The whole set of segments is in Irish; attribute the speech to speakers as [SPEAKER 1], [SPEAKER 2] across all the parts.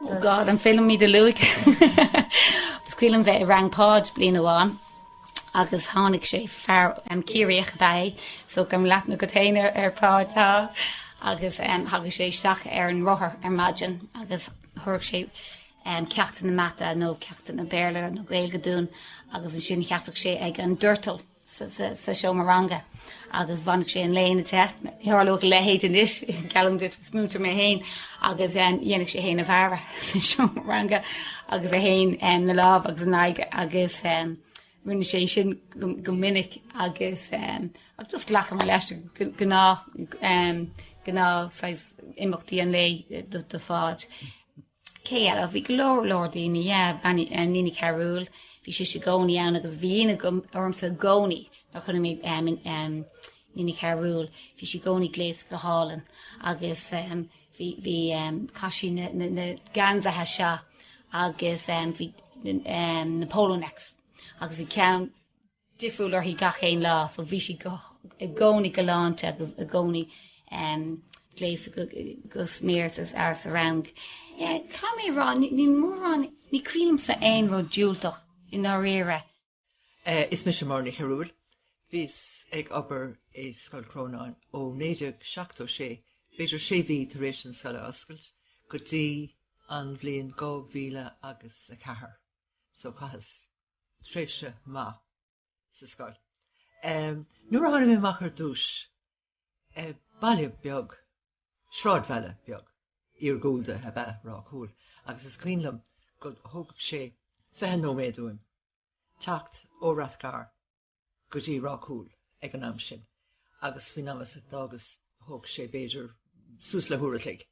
[SPEAKER 1] Oh God, an féidir liom iad a lua. Is cuimhin liom bheith i rang Páid bliain amháin agus tháinig sé fear Ciarraíoch ab ea é, so gan leath na gutaine ar Pháid tá, agus thagadh sé isteach ar an rothar ar maidin agus thabharfadh sé ceachtanna mata nó ceachtanna Béarla nó Gaeilge dúinn agus ansin sheasfadh sé ag an doirteal. sa seomra ranga agus bhainfeadh sé an léine de. Ní tharlódh a leithéid anois, geallaim duit, is múinteoir mé féin, agus dhéanfadh sé é féin a bhearradh sa seomra ranga agus é féin ina lámh agus ina aghaidh agus rinne sé sin go minic agus just ghlacamar leis go gnáth, gnáth saghas imeachtaí an lae do Pháid. Cé eile? Bhí go leor, leor daoine. Yeah, Iníon Ní Chearúil, bhí sise i gcónaí ann agus bhí ionadh agam, ormsa i gcónaí nuair a chonaic mé em, em, Iníon Ní Chearúil, bhí sí i gcónaí gléasta go hálainn agus em, bhí, bhí em, chaith sí na, na, na geansaithe seo agus em, bhí em, na polo necks agus bhí ceann, difriúil uirthi gach aon lá, so bhí sí i gcónaí galánta agus i gcónaí gléasta go smior sa rang. Caithfidh mé a rá, níl mórán, ní cuimhin liomsa aon rud diúltach i ndáiríre. Is
[SPEAKER 2] mise Máire Ní Chearúil. Bhíos ag obair i Scoil Chrónáin ó 1976, b'fhéidir sé mhí tar éis an scoil a oscailt, go dtí an bhliain 2004. So chaitheas. tréimhse maith sa scoil. Nuair a tháinig mé amach ar dtús, baile beag, sráidbhaile beag iargúlda ab ea Ráth Cúil agus is cuimhin liom go dtógadh sé fiche nóiméad uaim teacht ó Rathgar go dtí Ráth Cúil ag an am sin agus faoin am as a d'fhágas thóg sé b'fhéidir suas le huair a chloig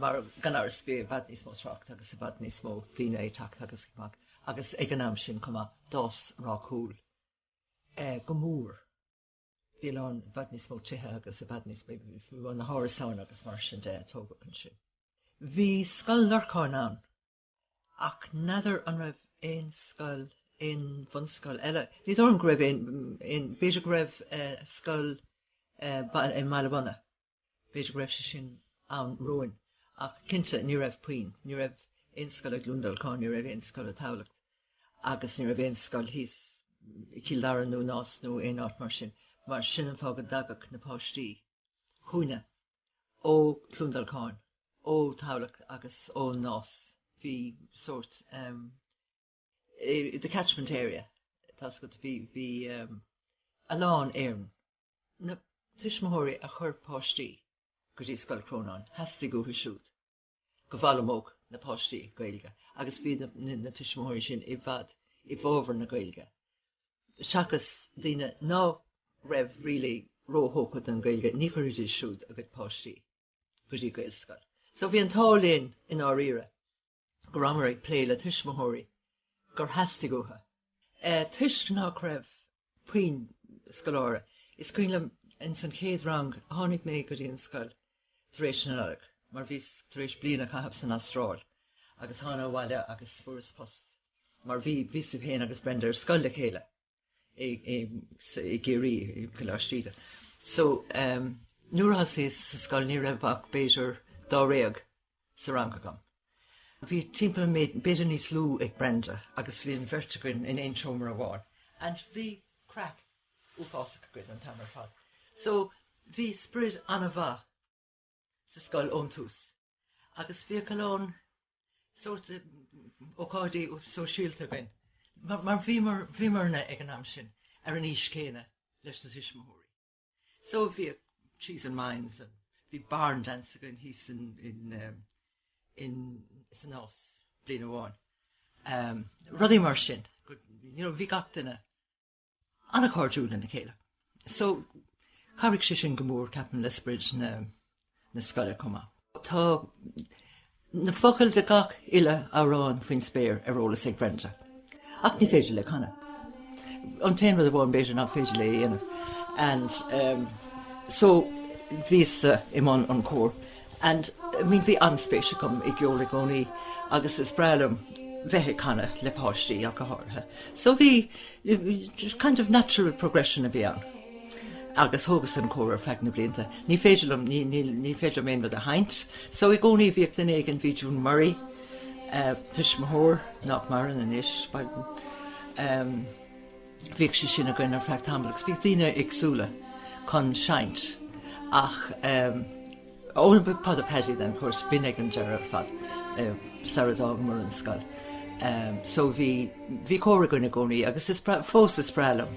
[SPEAKER 2] mar gan amhras bhí i bhfad níos mó trácht agus i bhfad níos mó daoine ag teacht agus ag imeacht agus ag an am sin chomh maith d'fhás Ráth Cúil eh, go mór bhí a lán, i bhfad níos mó tithe agus i bhfad níos mó bhí na hárasáin agus mar sin de tógadh ansin. Bhí Scoil Lorcáin ann Ach n'fheadar an raibh aon scoil, aon bhunscoil eile, ní dóigh liom go raibh aon, b'fhéidir go raibh scoil i mBaile Munna, b'fhéidir go raibh sé sin ann romhainn, ach cinnte ní raibh puinn, ní raibh aon scoil i gCluain Dolcáin, ní raibh aon scoil i dTamhlacht agus ní raibh aon scoil thíos i gCill Dara nó i Nás nó aon áit mar sin. Mar sin an fáth go dtagadh na páistí chugainne. Ó Chluain Dolcáin, ó Thamhlacht agus ó Nás, bhí sórt um, the catchment area, tá go bhí bhí um, a lán éilimh. Na tuismitheoirí a chuir páistí go dtí Scoil Chrónáin, theastaigh uathu siúd. go bhfoghlaimeodh na páistí Gaeilge agus bhí na tuismitheoirí sin i bhfad i bhfabhar na Gaeilge seachas daoine ná raibh really róthógtha don Ghaeilge, ní chuirfidís siúd a gcuid páistí go dtí Gaelscoil. So bhí an t-ádh linn i ndáiríre go rabhamar ag plé le tuismitheoirí gur theastaigh uathu toisc nach raibh Puinn scoláire is cuimhin liom ins an chéad rang a tháinig mé go dtí an scoil tar éis na Nollag, mar bhíos tar éis bliain a chaitheamh san Astráil agus thána abhaile agus fuaireas post mar bhí, bhíos féin agus Brenda ar scoil le chéile i, i, i gCiarraí, i gColáiste Íde. So, em, nuair a thosaíos sa scoil ní raibh ach b'fhéidir dáréag. sa rang agam. Bhí timpeall b'fhéidir níos lú ag Brenda agus bhí an bheirt againn in aon seomra amháin and bhí craic uafásach againn an t-am ar fad. So bhí sprid an-mhaith sa scoil ón tús agus bhíodh a lán sórt ócáidí sóisialta againn mar bhíomarna ag an am sin ar an aois céanna leis na tuismitheoirí. So bhí cheese and wines and bhí barn dance againn thíos in in um, in san Nás bliain amháin. Um, rudaí mar sin. You know, bhí gach duine an-chairdiúil lena chéile. So chabhraigh sé sin go mór ceapaim le sprid na na scoile chomh maith. Tá na focail de gach uile amhrán faoin spéir ar eolas ag Brenda, ach ní féidir léi canadh. An t-aon rud amháin b'fhéidir nach féidir léi a dhéanamh and ehm so bhíos-sa i mbun an chóir and I mean bhí an-spéis agam i gceol i gcónaí agus is breá liom bheith ag canadh le páistí ach go háirithe. So bhí. kind of natural progression a bhí ann. Agus thógas an cór ar feadh na blianta. Ní féidir liom, ní, ní, ní féidir liom aon rud a sheinnt. So i gcónaí bhí duine éigin, bhí June Murray, eh, tuismitheoir, nach maireann anois, bhíodh, ehm, bhíodh sí sin againn ar feadh tamaill agus bhíodh daoine éagsúla chun seinnt. Ach, ehm, Only a pot of paddy then, of course, b'in ag an deireadh ar fad, sara d'fhágamar an scoil. So bhí, bhí cór againn i gcónaí agus is breá, fós is breá liom,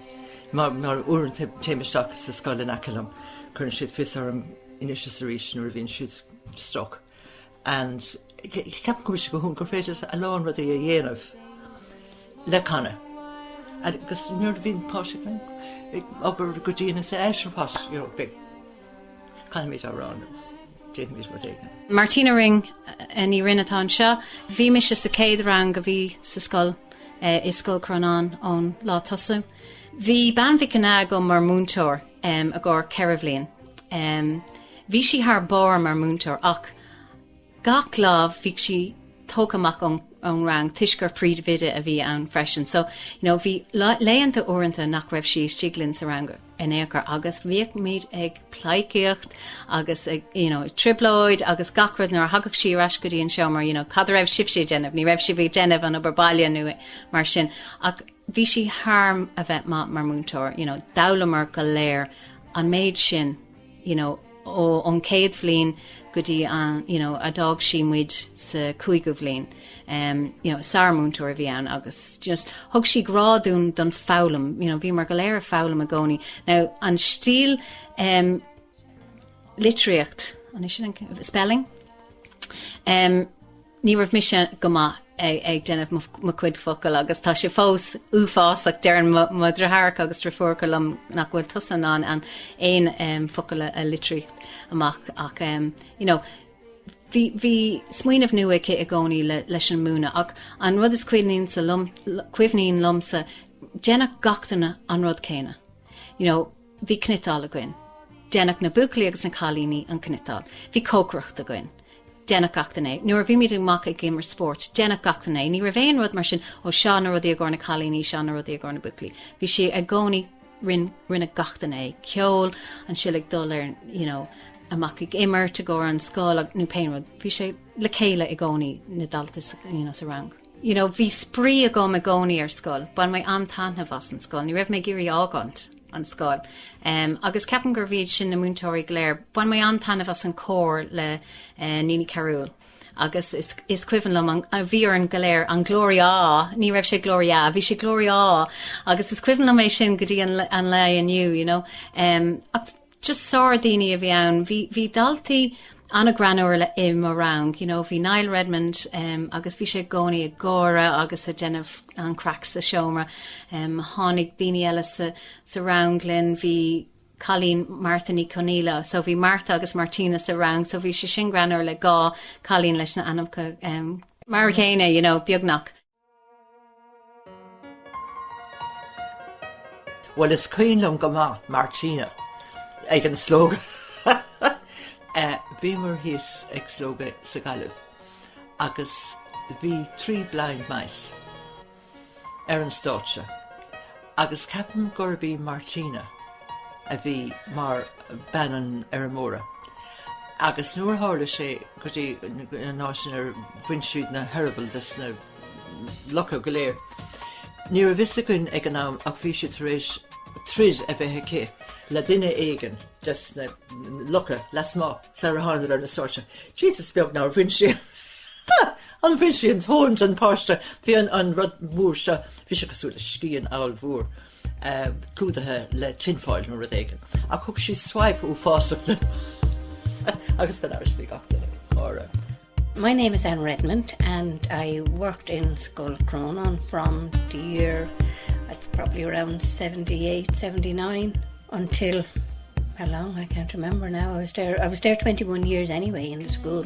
[SPEAKER 2] mar, mar uaireanta téim isteach sa scoil in aice liom, cuireann siad fios orm anois is arís nuair a bhíonn siad stuck. And ceapaim go bhfuil sé go hiontach gur féidir a lán rudaí a dhéanamh le canadh. Agus nuair a bhíonn páistí ag obair go dian, eh, sure what, you know, big. Caithfimid amhrán. Déanfaimid rud éigin.
[SPEAKER 1] Martina Ring, Ní Rinn atá anseo. Bhí mise sa chéad rang a bhí sa scoil i Scoil Chrónáin ón lá tosaigh. Bhí Bean Mhic Ginneá agam mar múinteoir i gcomhair ceithre bhliain. Bhí sí thar barr mar mhúinteoir ach. Gach lá bhíodh sí tógtha amach ón rang toisc gur príomhoide a bhí ann freisin so you know bhí laethanta uaireanta nach raibh sí istigh linn sa rang in aon chor agus bhíochimid ag pleidhcíocht agus ag you know trioblóid agus gach rud nuair a thagadh sí ar ais go dtí an seomra you know cad a raibh sibhse ag déanamh? Ní raibh sibh ag déanamh an obair baile nó, mar sin ach bhí sí thar a bheith maith mar mhúinteoir you know d'fhoghlaimear go léir an méid sin you know, ó, ón chéad bhliain go dtí an, you know, a d'fhág sí muid sa cúigiú bliain, um, you know, sármhúinteoir a bhí ann agus just thug sí grá dúinn don foghlaim, you know, bhíomar go léir ag foghlaim i gcónaí. Now an stíl um, litríocht ansin spelling. Um, Ní raibh mise go maith ag déanamh mo chuid focal agus tá sé fós uafásach, deireann mo dheartháireacha agus deirfiúracha liom, nach bhfuil tusa in ann aon focal a litríocht amach ach you know bhí bhí smaoineamh nua aici i gcónaí leis an múineadh ach an rud is cuimhin liom, cuimhin liomsa, déanadh gach duine an rud céanna, you know. Bhí cniotáil againn. Deineadh na buachaillí agus na cailíní an cniotáil. Bhí cócaireacht againn. Deineadh gach duine é. Nuair a bhímis amach ag imirt spórt, deineadh gach duine é. Ní raibh aon rud mar sin, ó, seo na rudaí i gcomhair na cailíní, seo na rudaí i gcomhair na buachaillí. Bhí sé i gcónaí, rinne, rinne gach duine é. Ceol, ansin ag dul ar, you know, amach ag imirt i gcomhair an scoil, nó pé rud. Bhí sé le chéile i gcónaí, na daltaí, you know, sa rang. You know, bhí spraoi agam i gcónaí ar scoil, bhain mé an-taitneamh as an scoil, ní raibh mé ag iarraidh fhágáint an scoil, em, agus ceapaim gurb iad sin na múinteoirí go léir. Bhain mé an-taitneamh as an cór le, eh, Iníon Ní Chearúill, agus is, is cuimhin liom an, a bhí orainn go léir, an Gloria, ní raibh sé Gloria, bhí sé Gloria, agus is cuimhin liom é sin go dtí an, an lá inniu, you know, em, ach, just sárdhaoine a bhí ann. Bhí, bhí daltaí an-ghreannmhar le, i mo rang, you know, bhí Niall Redmond, em, agus bhí sé i gcónaí ag gáire agus ag déanamh an-craic sa seomra, em, tháinig daoine eile sa, sa rang linn, bhí cailín, Martha Ní Chonghaile, so bhí Martha agus Martina sa rang, so bhí sé sin greannmhar le dhá cailín leis na ainmneacha, em, mar an gcéanna, you know, beagnach.
[SPEAKER 2] Bhuel, is cuimhin liom go maith Martina ag an Slógadh. Bhíomar thíos ag Slógadh sa Ghaillimh agus bhí trí blind mice ar an stáitse. Agus ceapaim gurb í Martina a bhí mar bean an fheirmeora, agus nuair a tharla sé go dtí an áit inar bhain siad na heireabaill de sna lucha go léir, ní raibh fhios againn ag an am ach bhí sí tar éis troid a bheith aici le duine éigin de sna lucha lasmuigh, sara thángadar ar an stáitse. Jesus beag nár bhain sí! Nár bhain sí an tóin den páiste. Bhí an an rud mór seo, bhí sé cosúil le scian ollmhór, clúdaithe le tinfoil nó rud éigin, ach thug sí swipe uafásach de agus gan amhras bhí gach duine ag gáire. My
[SPEAKER 3] name is Anne Redmond and I worked in Scoil Chrónáin from the year, it's probably around seventy eight, seventy nine until, how long, I can't remember now, I was there, I was there twenty one years anyway in the school.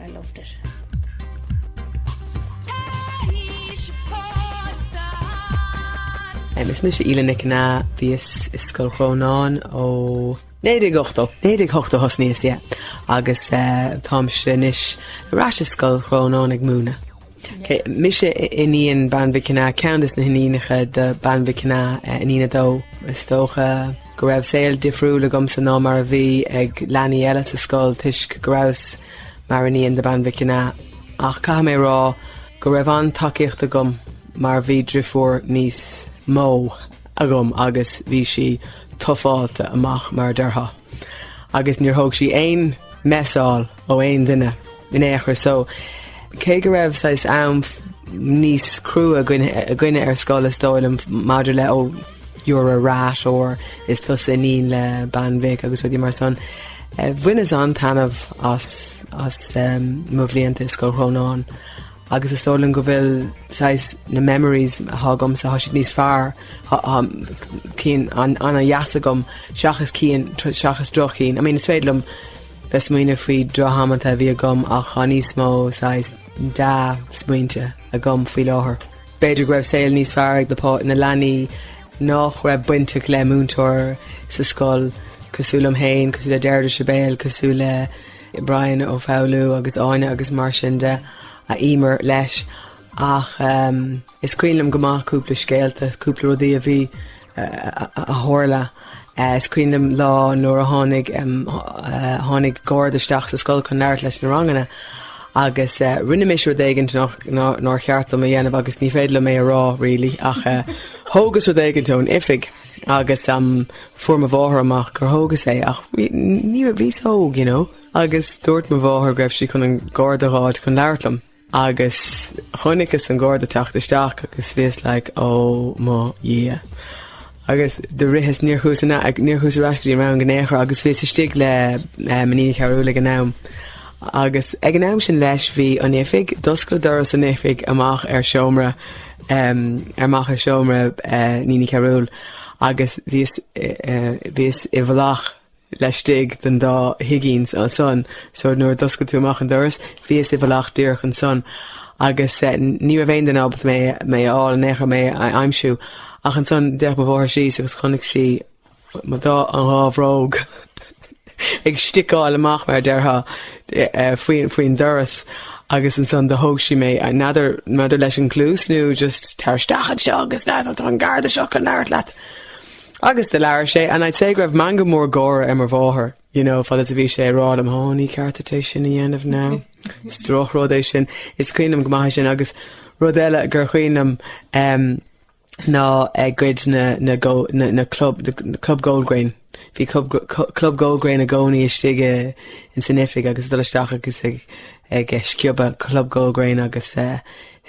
[SPEAKER 3] I loved
[SPEAKER 4] it. Is mise Aoileann Nic Anna, bhíos i Scoil Chrónáin ó 1980, 1980 a thosnaíos, yeah, agus táimse anois ar ais i Scoil Chrónáin ag múineadh. Mise iníon Bean Mhic Anna, ceann des na hiníonacha de Bean Mhic Anna, iníon a dó. Is dócha go raibh saol difriúil agamsa ná mar a bhí ag leanaí eile sa scoil toisc go rabhas mar iníon de Bean Mhic Anna, ach caithfidh mé a rá go raibh an-tacaíocht agam mar bhí driofúr níos mó agam agus bhí sí tufáilte amach mar a déarfá agus níor thóg sí aon messáil. ó aon duine in aon chor so cé go raibh saghas am níos crua againne ar scoil is dóigh liom maidir le oh you're a rat or is tusa iníon le bean mhic agus rudaí mar san bhaineas an-taitneamh as as mo bhlianta i Scoil Chrónáin agus is dóigh liom go bhfuil saghas na memories atá agamsa tá siad níos fearr cinn an-deas agam seachas cinn seachas droch-chinn I mean is féidir liom Bheith ag smaoineamh faoi drochamanta a bhí agam ach tá níos mó saghas dea-smaointe agam faoi láthair. B'fhéidir go raibh saol níos fearr ag na leanaí nach raibh baint acu le múinteoir sa scoil, cosúil liom féin, cosúil le Deirdre Sibéal, cosúil le Brian Ó Foghlú agus Áine agus mar sin de, Eimear leis. Ach is cuimhin liom go maith cúpla scéalta, cúpla rudaí a bhí a tharla. Is cuimhin liom lá nuair a tháinig, tháinig garda isteach sa scoil chun labhairt leis na ranganna agus rinne mise rud éigin nár, nár cheart dom a dhéanamh agus ní féidir liom é a rá really ach thógas rud éigin ón oifig agus fuair mo mháthair amach gur thógas é ach bhí, ní raibh, bhíos óg you know, agus dúirt mo mháthair go raibh sí chun an garda a dh'fháil chun labhairt liom. Agus chonaiceas an Garda teacht isteach agus bhíos like oh mo Dhia. Agus do ritheas níor chuas in a- níor chuas ar ais go dtí mo rang in aon chor agus bhíos istigh le Iníon Ní Chearúil ag an am. Agus ag an am sin leis bhí an oifig, d'oscail doras an oifig amach ar seomra amach ar seomra Iníon Ní Chearúil agus bhíos i bhíos i bhfolach. laistigh den dá thigín ansan, so nuair a d'oscail tú amach an doras, bhíos i bhfolach díreach ansan, agus ní raibh aon duine ábalta mé mé a fháil in aon chor mé a aimsiú. Ach ansan d'fhéach mo mháthair síos agus chonaic sí mo dhá an dhá bhróg ag sticáil amach, mar a déarfá, faoi faoin doras, agus ansan do thóg sí mé, n'fheadar n'fheadar leis an gcluas nó just tar isteach anseo agus tá an garda seo chun labhairt leat. Agus do labhair sé, and I'd say go raibh meangadh mór gáire ar mo mháthair, you know, fad is a bhí sé ag rá liom, 'Ó, ní ceart duit é sin a dhéanamh nó is drochrud é sin. Is cuimhin liom go maith é sin agus rud eile gur chuimhin liom, em, ná a gcuid na, na go, na, na club, the, the club Goldgrain. Bhí cub, cu, club Goldgrain i gcónaí istigh i, in san oifig agus ag dul isteach agus ag, ag, eh, sciobadh club Goldgrain agus, eh,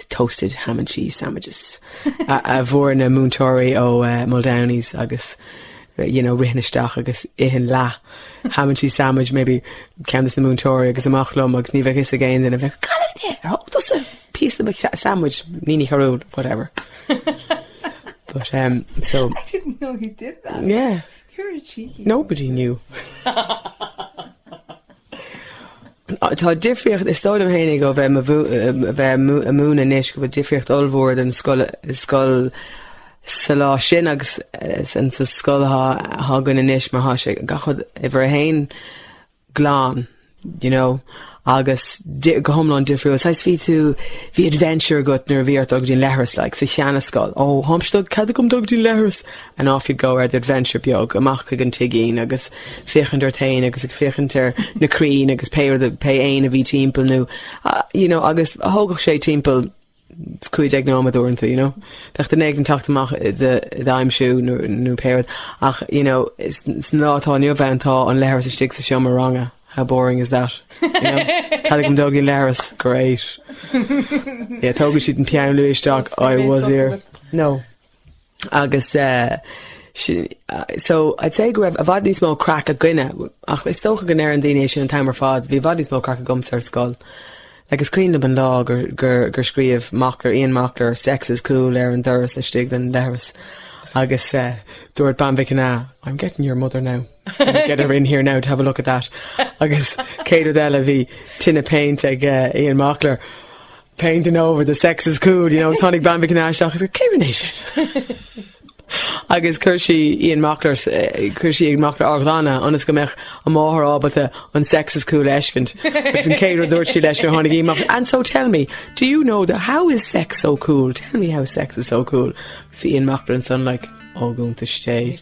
[SPEAKER 4] toasted ham and cheese sandwiches a bhfuair na múinteoirí ó Muldowney's agus you know rithinn isteach agus ithinn leath ham and cheese sandwich maybe ceann dos na múinteoirí agus amach liom agus ní bheadh fhios ag aon duine a bheadh cad é dia? ar thóg tusa píosa de mo sandwich Iníon Ní Chearúil whatever but um so I didn't know he
[SPEAKER 2] did that yeah you were
[SPEAKER 4] cheeky
[SPEAKER 2] nobody knew
[SPEAKER 4] Tá difríocht, is dóigh liom féinig ó bheith a bheith ag múineadh anois, go bhfuil difríocht ollmhór den scoil, scoil sa lá sin agus san sa scoil atá atá againn anois mar tá sé gach rud uimhir a haon glan, you know, agus di- go hiomlán difriúil. Saghas bhí tú, bhí adventure agat nuair a bhí ort dul go dtí an leithreas like sa sheanascoil, oh, tháim-se ag dul, cead agam dul go dtí an leithreas? And off you'd go ar do adventure beag, amach chuig an tigín agus féachaint ort féin agus ag féachaint ar na crainn agus pé rud a, pé éan a bhí timpeall nó you know agus thógfadh sé timpeall cúig déag nóiméad uaireanta you know. Bheadh duine ag teacht amach i do i d'aimsiú nó nó pé rud ach you know is san lá atá inniu ann tá an leithreas istigh sa seomra ranga how boring is that? You know? Cead agam dul go dtí an leithreas? Great. Yeah tógfaidh siad an peann luaidhe isteach I was here. No. Agus eh, sin, so, I'd say go raibh i bhfad níos mó craic againne, ach is dócha go ndeireann daoine é sin an t-am ar fad, bhí i bhfad níos mó craic agamsa ar scoil. Like, is cuimhin liom an lá gur, gur, gur scríobh Mockler, Ian Mockler, Sex is cool ar an doras istigh den leithreas agus eh, dúirt Bean Mhic Cana, I'm getting your mother now, get her in here now to have a look at that. Agus céad rud eile, bhí tin of paint ag eh, Ian Mockler. painting over the sex is cool, you know, tháinig Bean Mhic Cana isteach agus go, 'Cé a rinne é sin? agus chuir sí Ian Mockler, chuir sí Ian Mockler á ghlanadh ionas go mbeadh a máthair ábalta an sex is cool a fheiscint. Agus an chéad rud a dúirt sí leis nuair a tháinig Ian amach, 'And so tell me, do you know the, how is sex so cool? Tell me how sex is so cool? Agus bhí Ian Mockler ansan like, 'Ó, go iontais té.